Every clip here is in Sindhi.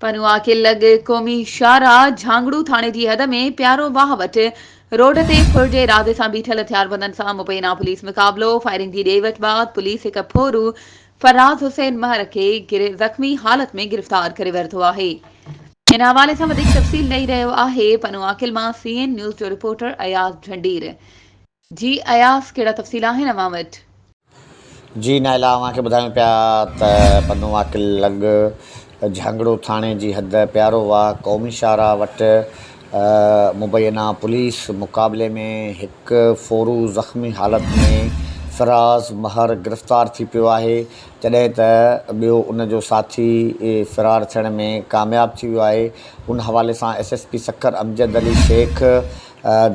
پنوعا کي لڳ قومي شاهراهه جهانگڙو ٿاڻي جي حد ۾ پيارو واهه وٽ روڊ تي ڦر جي ارادي سان بيٺل هٿياربندن سان مبينا پوليس مقابلو فائرنگ جي ڏي وٺ بعد پوليس هڪ ڦورو فراز حسين مهر کي زخمي حالت ۾ گرفتار ڪري ورتو آهي. ان حوالي سان وڌيڪ تفصيل ڏئي رهيو آهي پنوعا قلعه مان سي اين نيوز جو رپورٽر اياز جهنڊير. جي اياز ڪهڙا تفصيل آهن اوهان وٽ؟ جي نائلا اوهان کي ٻڌايون پيا ته پنو عاقل لڳ جهانگڙو ٿاڻي جي حد پيارو واهه قومي شاهراهه وٽ مبينا پوليس مقابلي ۾ هڪ ڦورو زخمي حالت ۾ فراز مهر گرفتار ٿي پيو آهي جڏهن ته ٻيو ان جو ساٿي فرار ٿيڻ ۾ ڪامياب ٿي ويو آهي ان حوالي سان S S P Sukkur Amjad Ali Shaikh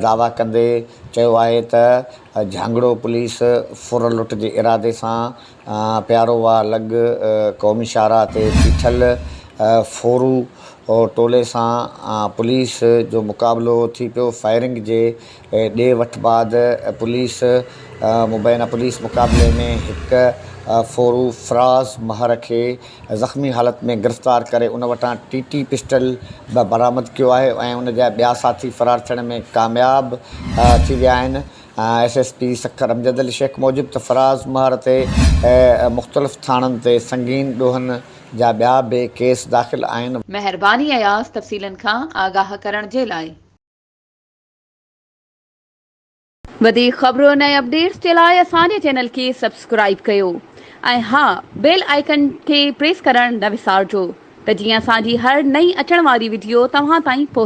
دعويٰ ڪندي چيو آهي ته جهانگڙو پوليس ڦر لٽ جي ارادي سان پيارو واهه لڳ قومي شاهراهه تي بيٺل ڦورو ٽولي سان پوليس جو مقابلو ٿي پيو فائرنگ جي ڏي وٺ بعد پوليس مبينا پوليس مقابلي ۾ هڪ ڦورو فراز مهر کي زخمي حالت ۾ گرفتار ڪري ان وٽان ٽي ٽي پسٽل به برآمد ڪيو آهي ۽ ان جا ٻيا ساٿي فرار ٿيڻ ۾ ڪامياب ٿي ويا آهن S S P Sukkur Amjad Ali Shaikh موجب ته فراز مهر تي مختلف ٿاڻن تي سنگين ڏوهن جا ٻيا به ڪيس داخل آهن. مهرباني اياز تفصيلن کان آگاهه ڪرڻ جي لاء. وڌيڪ خبرن ۽ اپڊيٽس جي لاء اسان جي چينل کي سبسڪرائيب ڪيو ۽ ها بيل آئيڪن کي پريس ڪرڻ نه وسارجو ته جيئن اسان جي هر نئين اچڻ واري وڊيو توهان تائين پهچي.